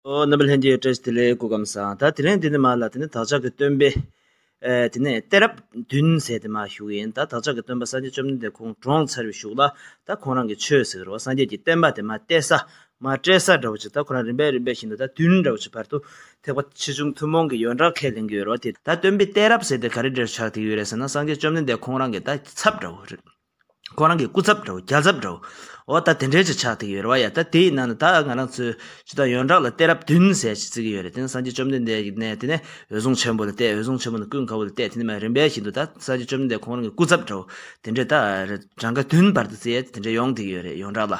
རྣམ་པ་ལྷན་སྐྱེས་སྐྲ་བཞི་ཐིག་ལེའི་སྐུ་ཁམས་བཟང་ད་དེ་ལན་དེ་ནི་མ་ལ་དེ་ནི་བདག་ཅག་གི་སྟོན་པས། དེ་ནས་གཏད་རབས་བདུན་མཛད་དེ་མ་བཞུགས་ཡིན་ད་བདག་ཅག་གི་སྟོན་པ་སངས་རྒྱས་བཅོམ་ལྡན་འདས་ཁོང་གྲོངས་ཚར་བས་བཞུགས་ལ་ད་ཁོང་རང་གི་ཆོས་ཟེར་རོ་སངས་རྒྱས་ཀྱི་བསྟན་པ་དེ་མ་གཏད་ས་མ་སྤྲད་ས་འདྲ་བོ་ཅིག་ད་ཁོ་རང་རིམ་པས་རིམ་པས་བཞིན་དུ་ད་བདུན་འདྲ་བོ་ཅིག་བར་དུ་ཐེག་པ་ཆེ་ཆུང་ཐུན་མོང་གི་ཡོན་བདག་ཁས་ལེན་གྱི་ཡོད་རོ་དེ། ད་སྟོན་པས་གཏད་རབས་ཟེར་དེ་ག་རེ་འདྲར་ཆགས་ཐིག་ཡོད་རེད་ཟེར་ན་སངས་རྒྱས་བཅོམ་ལྡན་འདས་ཁོང་རང་གི་ད་ཚབ་འདྲ་བོ་རེད། ཁོ་རང་གི་སྐུ་ཚབ་འདྲ་བོ་རྒྱ་ཚབ་འདྲ་བོ་འོ་ད་དེ་འདྲའི་ཆ་ཆགས་དེ་ཡོད་རེད་བ་ཡ་ད་དེ་ཡི་ནང་ནས་ད་ང་རང་ཚོའི་སྤྱི་དང་ཡོན་བདག་ལ་གཏད་རབས་བདུན་ཟེར་ཞེས་བརྩི་གི་ཡོད་རེད་དེ་ནི་སངས་རྒྱས་བཅོམ་ལྡན་འདས་ཀྱི་ནས་དེ་ནས་འོད་སྲུང་ཆེན་པོ་ལ་གཏད་འོད་སྲུང་ཆེན་པོ་ནས་ཀུན་དགའ་བོ་ལ་གཏད་དེ་ནས་མ་རིན་པའི་བཞིན་དུ་ད་སངས་རྒྱས་བཅོམ་ལྡན་འདས་ཁོང་རང་གི་སྐུ་ཚབ་འདྲ་བོ་དེ་འདྲས་ད་གྲངས་ཀ་བདུན་བར་དུ་བརྩི་ཡས་དེ་འདྲས་ཡོང་དེ་གི་ཡོད་རེད་ཡོན་བདག་ལ།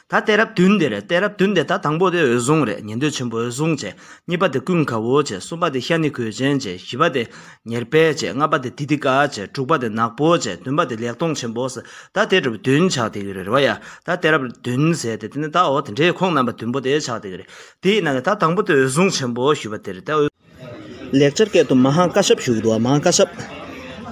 ད་གཏད་རབས་བདུན་དེ་རེད་གཏད་རབས་བདུན་དེ་ད་དང་པོ་དེ་འོད་སྲུང་རེད་ཉན་ཐོས་ཆེན་པོ་འོད་སྲུང་བྱས་གཉིས་པ་དེ་ཀུན་དགའ་བོ་བྱས་གསུམ་པ་དེ་ཤ་ནི་གོས་ཅན་བྱས་བཞི་པ་དེ་ཉེར་སྤེལ་བྱས་ལྔ་པ་དེ་དི་དི་ཀ་བྱས་དྲུག་པ་དེ་ནག་པོ་བྱས་བདུན་པ་དེ་ལེགས་མཐོང་ཆེན་པོ་ཟེར་ད་གཏད་རབས་བདུན་ཆགས་དེ་གི་རེད་རེ་བ་ཡ་ད་གཏད་རབས་བདུན་ཟེར་དེ་དེ་ནི་ད་འོ་དེ་འདྲའི་ཁོང་རྣམ་པ་བདུན་པོ་དེ་ཆགས་དེ་གི་རེད་དེ་ཡིན་ན་ནི་ད་དང་པོ་དེ་འོད་སྲུང་ཆེན་པོ་ཞུས་པ་དེ་རེད་དེ་འོད། ལེགས་སྦྱར་སྐད་དུ་མ་ཧཱ་ཀ་ཤཱབ་ཞུགས་འདུག་མ་ཧཱ་ཀ་ཤཱབ།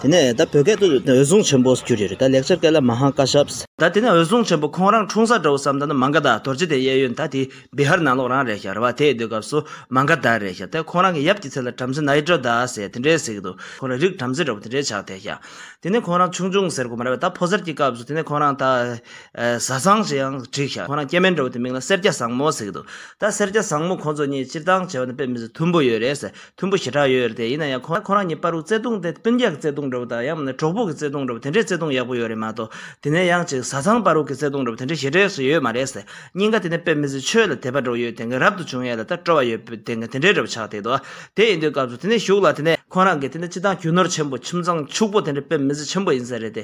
དེ་ནས་ད་བོད་སྐད་དུ་འོད་སྲུང་ཆེན་པོ་ཞེས་བརྗོད་རེད་ད་ལེགས་སྦྱར་སྐད་ལ་མ་ཧཱ་ཀ་ཤཱབ། ད་དེ་ནས་འོད་སྲུང་ཆེན་པོ་ཁོང་རང་འཁྲུངས་ས་འདྲ་བོ་བསམ་ད་ནི་མ་འགའ་ད་དོར་རྗེ་དེ་གཡས་གཡོན་ད་དེ་བི་ཧར་ནང་ལོགས་རང་རེད་ཤག་རེད་བ་དེས་སྡོད་སྐབས་སུ་མ་འགའ་ད་རེད་ཤག་དེ་ཁོང་རང་གི་ཡབ་ཀྱི་ཚེ་ལ་བྲམ་ཟེ་ནཱི་ཏྲ་ད་ཟེར་དེ་འདྲས་ཟེར་གི་འདུག་ཁོང་རང་རིགས་བྲམ་ཟེ་འདྲ་བོ་དེ་འདྲས་ཆགས་དེ་ཤག་དེ་ནས་ཁོང་རང་ཆུང་ཆུང་ཟེར་གོ་མ་རེད་བ་ད་ཕོ་གསར་གྱི་སྐབས་སུ་དེ་ནས་ཁོང་རང་ད། བཟའ་ཚང་ཞེས་ཡང་བྲིས་ཤག་ཁོ་རང་སྐྱེ་དམན་འདྲ་བོ་དེ་མིང་ལ་སེར་སྐྱ་བཟང་མོ་ཟེར་གི་འདུག་ད་སེར་སྐྱ་བཟང་མོ་ཁོང་ཚོ་གཉིས་སྤྱིར་བཏང་བྱ་བ་ནི་དཔེ་མི་ཟེར་མཐུན་པོ་ཡོད་རེད་མཐུན་པོ་ཞེ་དྲག་ཡོད་རེད་དེ་ཡིན་ན་ཡང་ཁོ་རང་གཉིས་དཔའ་རུ་བརྩེ་དུང་དེ་སྤུན་རྒྱག་གི་བརྩེ་དུང་འདྲ་བོ་དང་ཡང་མིན་ན་གྲོགས་པོ་གི་བརྩེ་དུང་འདྲ་བོ་དེ་འདྲའི་བརྩེ་དུང་ཡག་པོ་ཡོད་རེད་མ་གཏོགས་དེ་ནས་ཡང་ཅིག་བཟའ་ཚང་དཔའ་རུ་གི་བརྩེ་དུང་འདྲ་བོ་དེ་འདྲའི་ཞེ་དྲག་སུ་ཡོད་མ་རེད་སྙིང་ག་དེ་ནས་དཔེ་མི་ཟེར་ཆོས་ལ་དད་པ་འགྲོ་ཡོད་དེ་ག་རབ་ཏུ་བྱུང་ཡས་ལ་ད་སྤྲོ་བ་ཡོད་པོ་དེ་ག་དེ་འདྲའི་འདྲ་བོ་ཆགས་དེ་འདུག་དེ་ཡིན་དུས་སྐབས་སུ་དེ་ནས་བཞུགས་ལ་དེ་ནས་ཁོ་རང་གི་དེ་ནས་སྤྱི་བཏང་རྒྱུ་ནོར་ཆེན་པོ་ཁྱིམ་ཚང་ཕྱུག་པོ་དེ་འདྲའི་དཔེ་མི་ཟེར་ཆེན་པོ་ཡིན་ས་རེད་དེ་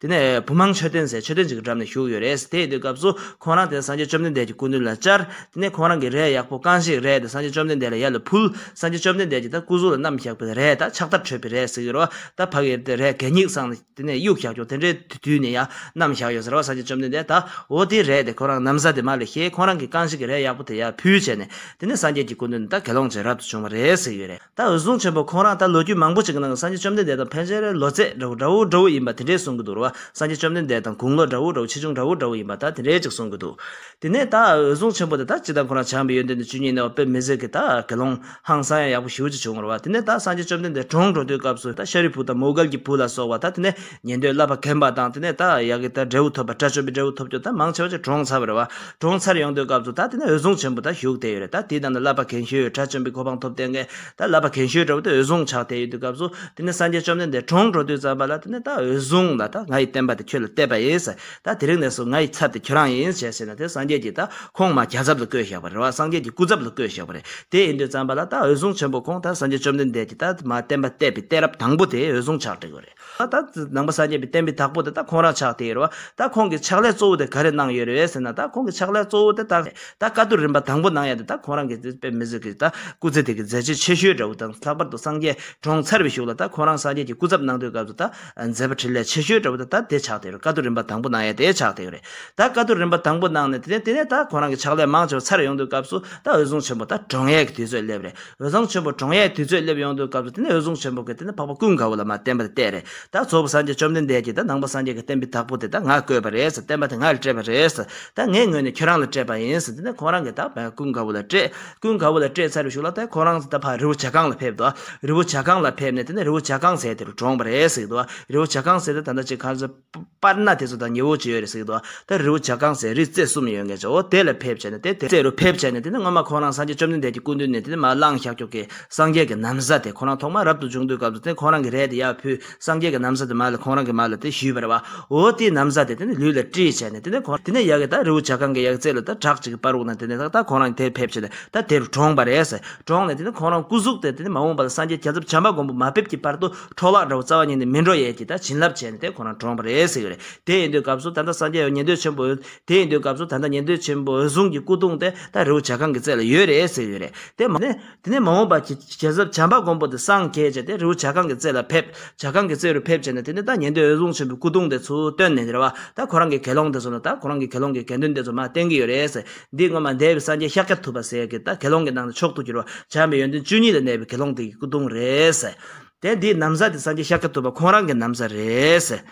དེ་ནས་བུ་མང་མཆོད་རྟེན་ཟེར་མཆོད་རྟེན་གཅིག་གི་འགྲམ་ནས་བཞུགས་ཡོད་རེད། དེ་ཡིན་དུས་སྐབས་སུ་ཁོང་རང་དེར་སངས་རྒྱས་བཅོམ་ལྡན་འདས་ཀྱི་སྐུ་མདུན་ལ་བཅར། དེ་ནས་ཁོང་རང་གིས་རས་ཡག་པོ་བཀང་ཞིག་རས་དེ་སངས་རྒྱས་བཅོམ་ལྡན་འདས་ལ་ཡར་ལ་ཕུལ། སངས་རྒྱས་བཅོམ་ལྡན་འདས་ཀྱིས་ད་སྐུ་གཟུགས་ལ་གནམ་བཞག་པའི་རས་ད་ཕྱག་དར་ཁྲོད་པའི་རས་ཟེར་གྱི་རོ། ད་བག་ཡེར་དེ་རས་གད་སྙིགས་བསྲངས་ནས་དེ་ནས་དབྱུག་བཞག་བྱུང་དེ་འདྲའི་དུས་ནས་ཡང་གནམ་བཞག་ཡོད་ཟེར་བ་སངས་རྒྱས་བཅོམ་ལྡན་འདས་ད་འོ་དེའི་རས་དེ་ཁོ་རང་གནམ་ས་དེ་མ་ལས་ཤེས་ཁོང་རང་གིས་བཀང་ཞིག་གི་རས་ཡག་པོ་དེ་ཡར་ཕུལ་བྱས་ནས་དེ་ནས་སངས་རྒྱས་ཀྱི་སྐུ་མདུན་ད་དགེ་སློང་བྱས་རབ་ཏུ་བྱུང་བ་རེད་ཟེར་གྱི་ཡོད་རེད། ད་འོད་སྲུང་ཆེན་པོ་ཁོང་རང་ད་ལོ་རྒྱུས་མང་པོ་ཅིག་གི་ནང་གི་སངས་རྒྱས་བཅོམ་ལྡན་འདས་དང་ཕན་ཆད་རེ་ལོ་ཚད་འདྲ་བོ་འདྲ་བོ་འདྲ་བོ་ཡིན་པ་དེ་འདྲས་གསུང་གི་འདུག་རེ་བ་སངས་རྒྱས་བཅོམ་ལྡན་འདས་དང་དགུང་ལོ་འདྲ་བོ་འདྲ་བོ་ཆེ་ཆུང་འདྲ་བོ་འདྲ་བོ་ཡིན་པ་ད་དེ་འདྲས་ཅིག་གསུང་གི་འདུག་དེ་ནས་ད་འོད་སྲུང་ཆེན་པོ་དེ་ད་ཅི་ད་ཁོང་རང་བྱམས་པའི་ཡོན་ཏན་དང་བཅུད་ཉིད་ནས་བ་དཔེ་མི་ཟད་ཀྱི་ད་དགེ་སློང་ཧང་སང་ཡང་ཡག་པོ་ཞི་བོ་ཅིག་བྱུང་རེ་བ་དེ་ནས་ད་སངས་རྒྱས་བཅོམ་ལྡན་འདས་གྲོང་འགྲོ་དུས་སྐབས་སུ་ད་ཤཱ་རིའི་བུ་དང་མོའུ་དཀར་གྱི་བུ་ལ་སོགས་བ་ད་དེ་ནས་ཉན་ཐོས་བསླབ་པ་གན་པ་དང་དེ་ནས་ད་ཡག་གི་དར་འབྲས་བུ་ཐོབ་པ་དགྲ་བཅོམ་པའི་འབྲས་བུ་ཐོབ་རྒྱུ་དང་མང་ཆེ་བ་ཅིག་གྲོང་ཚར་བར་བར་གྲོང་ཚར་ཡོང་འདོད་སྐབས་སུ་ད་དེ་ནས་འོད་སྲུང་ཆེན་པོ་དག་བཞུགས་བསྡད་ཡོད་རེད་ད་དེའི་ནང་དུ་བསླབ་པ་གན་ཤོས་དགྲ་བཅོམ་པའི་གོ་འཕང་ཐོབ་བསྡད་མཁན་ད་བསླབ་པ་གན་ཤོས་འདྲ་བོ་དེ་འོད་སྲུང་ཆགས་བསྡད་ཡོད་དུས་སྐབས་སུ་དེ་ནས་སངས་རྒྱས་བཅོམ་ལྡན་འདས་གྲོང་འགྲོ་དུས་ཙམ་པ་ལ་དེ་ནས་ད་འོད་སྲུང་ལ་ད་ང་ཡི་བསྟན་པ་དེ་ཁྱོད་ལ་གཏད་པ་ཡིན་ཟེར་ད་དེ་རིང་ནས་བཟུང་ང་ཡི་ཚབ་དེ་ཁྱོད་རང་ཡིན་ཞེས་ཟེར་ནས་དེ་སངས་རྒྱས་ཀྱི་ད་ཁོང་མ་རྒྱ་ཚབ་ལ་བསྐོས་བཞག་པ་རེད་བ་སངས་རྒྱས་ཀྱི་སྐུ་ཚབ་ལ་བསྐོས་བཞག་པ་རེད་དེ་ཡིན་དུས་ཙམ་པ་ལ་ད་འོད་སྲུང་ཆེན་པོ་ཁོང་ད་སངས་རྒྱས་བཅོམ་ལྡན་འདས་ཀྱི་ད་མ་བསྟན་པ་གཏད་པའི་གཏད་རབས་དང་པོ་དེ་འོད་སྲུང་ཆགས་བསྡད་དགོས་རེད། ད་ལྟ་ནང་པ་སངས་རྒྱས་པའི་བསྟན་པའི་བདག་པོ་དེ་ད་ཁོང་རང་ཆགས་དེ་རེད་བ། ད་ཁོང་གི་ཕྱག་ལས་གཙོ་བོ་དེ་ག་རེ་གནང་ཡོད་རེད་ཟེར་ན་ད་ཁོང་གི་ཕྱག་ལས་གཙོ་བོ་དེ་ད་ད་བཀའ་བསྡུར་རིམ་པ་དང་པོ་གནང་ཡ་དེ་ད་ཁོང་རང་གི་དེ་དཔེ་མི་བཟོད་ཀི་ད་སྐུ་ཚེ་དེ་གི་མཛད་རྗེས་ཆེ་ཤོས་འདྲ་བོ་དང་ལྷག་པར་དུ་སངས་རྒྱས་གྲོངས་ཚར་བའི་ཞུགས་ལ་ད་ཁོང་རང་སངས་རྒྱས་ཀྱི་སྐུ་ཚབ་གནང་དུས་སྐབས་སུ་ད་མཛད་པ་ཕྲིན་ལས་ཆེ་ཤོས་འདྲ་བོ་དེ་ད་དེ་ཆགས་དེ་རེད་བཀའ་བསྡུར་རིམ་པ་དང་པོ་གནང་ཡ་དེ་ཆགས་དེ་རེད་ད་བཀའ་བསྡུར་རིམ་པ་དང་པོ་གནང་ནས་དེ་ནས་དེ་ནས་ད་ཁོང་རང་གི་ཕྱག་ལས་མང་ཆེ་བ་ཚར་ཡོང་དུས་སྐབས་སུ་ད་འོད་སྲུང་ཆེན་པོ་ད་གྲོངས་ཡས་ཀྱི་དུས་ཚོད་སླེབས་རེད། འོད་བཟང་ཆེན་པོ་གྲོང་ཡས་དུས་ཚོད་སླེབས་ཡོང་དུས་སྐབས་སུ་དེ་ནས་འོད་བཟང་ཆེན་པོ་གིས་དེ་ནས་འཕགས་པ་ཀུན་དགའ་བོ་ལ་མ་བསྟན་པ་དེ་གཏད་རེད་ད་ཚོགས་པ་སངས་རྒྱས་བཅོམ་ལྡན་འདས་ཀྱིས་ད་ནང་པ་སངས་རྒྱས་ཀྱི་བསྟན་པའི་བདག་པོ་དེ་ད་ང་བསྐོས་པ་རེད་བསྟན་པ་དེ་ང་ལ་སྤྲད་པ་རེད་ད་ངའི་ངོས་ནས་ཁྱོད་རང་ལ་སྤྲད་པ་ཡིན་དེ་ནས་ཁོང་རང་གིས་ད་ཀུན་དགའ་བོ་ལ་སྤྲད་ཀུན་དགའ་བོ་ལ་སྤྲད་ཚར་བའི་ཤུགས་ལ་ད་ཁོང་རང་ད་ཕར་རི་བོ་བྱ་རྐང་ལ་ཕེབས་དོ་རི་བོ་བྱ་རྐང་ལ་ཕེབས་ནས་དེ་ནས་རི་བོ་བྱ་རྐང་ཟེར་དེ་རུ་གྲོངས་པ་རེད་ཟེར་གྱི་འདུག་རི་བོ་བྱ་རྐང་ཟེར་དེ་ད་ལྟ་ཅི་ག་ཚོད། པར་ན་དེ་ཚོ་དང་ཉི་འོད་ཅི་ཡོད་རེད་ཟེར་གྱི་འདུག་ད་རི་བོ་བྱ་རྐང་ཟེར་རི་རྩེ་གསུམ་ཡོད་ངེས་ཆ་འོ་དེ་ལ་ཕེབས་བྱས་ནས་དེ་རྩེ་རུ་ཕེབས་བྱས་ནས་དེ་ནི་སྔོན་མ་ཁོང་རང་སངས་རྒྱས་བཅོམ་ལྡན་འདས་ཀྱི་སྐུ་མདུན་ནས་དེ་ནི་མ་བླངས་ཤཱཀ་ཀྱོག་གི་སངས་རྒྱས་ཀྱི་ནམ་བཟའ་དེ་ཁོང་རང་ཐོག་མར་རབ་ཏུ་འབྱུང་དུས་སྐབས་སུ་དེ་ཁོང་རང་གི་རས་དེ་ཡར་ཕུལ་སངས་རྒྱས་ཀྱི་ནམ་བཟའ་དེ་མ་ལ་ཁོང་རང་གི་མ་ལ་དེ་ཞུས་པར་བའོ་དེའི་ནམ་བཟའ་དེ་དེ་ནི་ལུས་ལ་དཀྲིས་བྱས་ནས་དེ་ནི་ཁོང་དེ་ནས་ཡལ་གྱི་ད་རི་བོ་བྱ་རྐང་གི་ཡལ་གྱི་རྩེ་ལོ་ད་བྲག་ཅིག་གི་པར་འུག་ན་དེ་ནས་ད་ཁོང་རང་དེར་ཕེབས་བྱས་ནས་ད་དེ་རུ་གྲོངས་པ་རེད་ཟེར་གྲོངས་ནས་དེ་ནི་ཁོང་རང་སྐུ་གཟུགས་དེ་དེ་ནི་མ་འོངས་པ་ལ་སངས་རྒྱས་བྱང་ཆུབ་བྱམས་པ་མགོན་པོ་མ་ཕེབས་ཀྱི་བར་དུ་འཕྲོ་བརླག་འདྲ་བོ་རྩ་བ་ཉིད་ནས་མི་འགྲོ་ཡས་ཀྱིས་ད་བྱིན་རླབས་བྱས་ནས་དེ་ཁོ་རང་གྲོངས་པ་རེད་ཟེར་གྱི་རེད། དེ་ཡིན་དུས་སྐབས་སུ་ད་ལྟ་སངས་རྒྱས་ཡོད་ཉན་ཐོས་ཆེན་པོ། དེ་ཡིན་དུས་སྐབས་སུ་ད་ལྟ་ཉན་ཐོས་ཆེན་པོ་འོད་སྲུང་གི་སྐུ་གདུང་དེ་ད་རི་བོ་བྱ་ཁང་གི་རྩེ་ལ་ཡོད་རེད་ཟེར་གྱི་རེད། དེ་མ་ཟད། དེ་ནས་མ་འོངས་པར་གྱི་རྒྱལ་ཚབ་བྱམས་པ་མགོན་པོ་དེ་སངས་རྒྱས་བྱས་ཏེ་རི་བོ་བྱ་ཁང་གི་རྩེ་ལ་ཕེབས། བྱ་ཁང་གི་རྩེ་རུ་ཕེབས་བྱས་ནས་དེ་ནས་ད་ཉན་ཐོས་འོད་སྲུང་ཆེན་པོའི་སྐུ་གདུང་དེ་ཚུར་བཏོན་ནས་རེད་བ། ད་ཁོ་རང་གི་དགེ་སློང་དེ་ཚོ་ལ་ད་ཁོ་རང་གི་དགེ་སློང་གི་དགེ་འདུན་དེ་ཚོ་མ་བསྟེན་གྱི་ཡོད་རེད་ཟེར། འདི་སྔོན་མ་འདས་པའི་སངས་རྒྱས་ཤཱཀྱ་ཐུབ་པ་ཟེར་གྱི་ད་དགེ་སློང་གི་ནང་ནས་མཆོག་ཏུ་གྱུར་བ་བྱམས་པའི་ཡོན་ཏན་བཅུ་གཉིས་ལས་གནས་པའི་དགེ་སློང་དེ་ཡི་སྐུ་གདུང་རེད་ཟེར། དེ་འདིའི་གནམ་ས་དེ་སངས་རྒྱས་ཤཱཀྱ་ཐུབ་པ་ཁོང་རང་གི་གནམ་ས་རེད།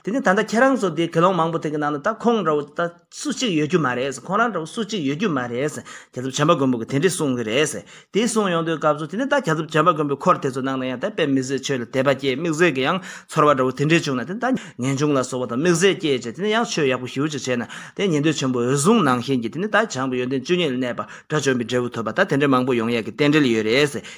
དེ་ནས་ད་ལྟ་ཁྱེད་རང་ཚོ་དེ་གེ་སློང་མང་པོ་དེ་གི་ནང་ལ་ད་ཁོང་འདྲ་བོ་ད་སུ་གཅིག་ཡོད་རྒྱུ་མ་རེད། ཁོང་རང་འདྲ་བོ་སུ་གཅིག་ཡོད་རྒྱུ་མ་རེད། གྱ་ཚོམ་བྱམས་པ་མགོན་པོ་གི་དེ་འདྲས་གསུངས་གི་རེད། དེ་གསུངས་ཡོང་དུས་སྐབས་སུ་དེ་ནས་ད་གྱ་ཚོམ་བྱམས་པ་མགོན་པོའི་འཁོར་དེ་ཚོ་ནང་ན་ཡང་ད་དཔེ་མི་བཟོད་ཆོས་ལ་དད་པ་སྐྱེས་དམིགས་བཟོད་ཀྱི་ཡང་ཚོར་བ་འདྲ་བོ་དེ་འདྲས་བྱུང་ན་དེ་ནས་ད་ངེས་འབྱུང་ལ་སོགས་པ་དང་དམིགས་བཟད་སྐྱེས་བྱས་དེ་ནས་ཡང་ཆོས་ཡག་པོ་ཞིབ་བོ་ཅིག་བྱས་ན་དེ་ཉན་ཐོས་ཆེན་པོ་འོད་སྲུང་ནང་བཞིན་གྱི་དེ་ནས་ད་བྱང་གི་ཡོན་ཏན་བཅུ་གཉིས་ལ་གནས་པ་དགྲ་བཅོམ་པའི་འབྲས་བུ་ཐོབ་པ་ད་དེ་འདྲས་མང་པོ་ཡོང་ཡས་ཀྱི་རྟེན་འབྲེལ་ཡོད་རེད།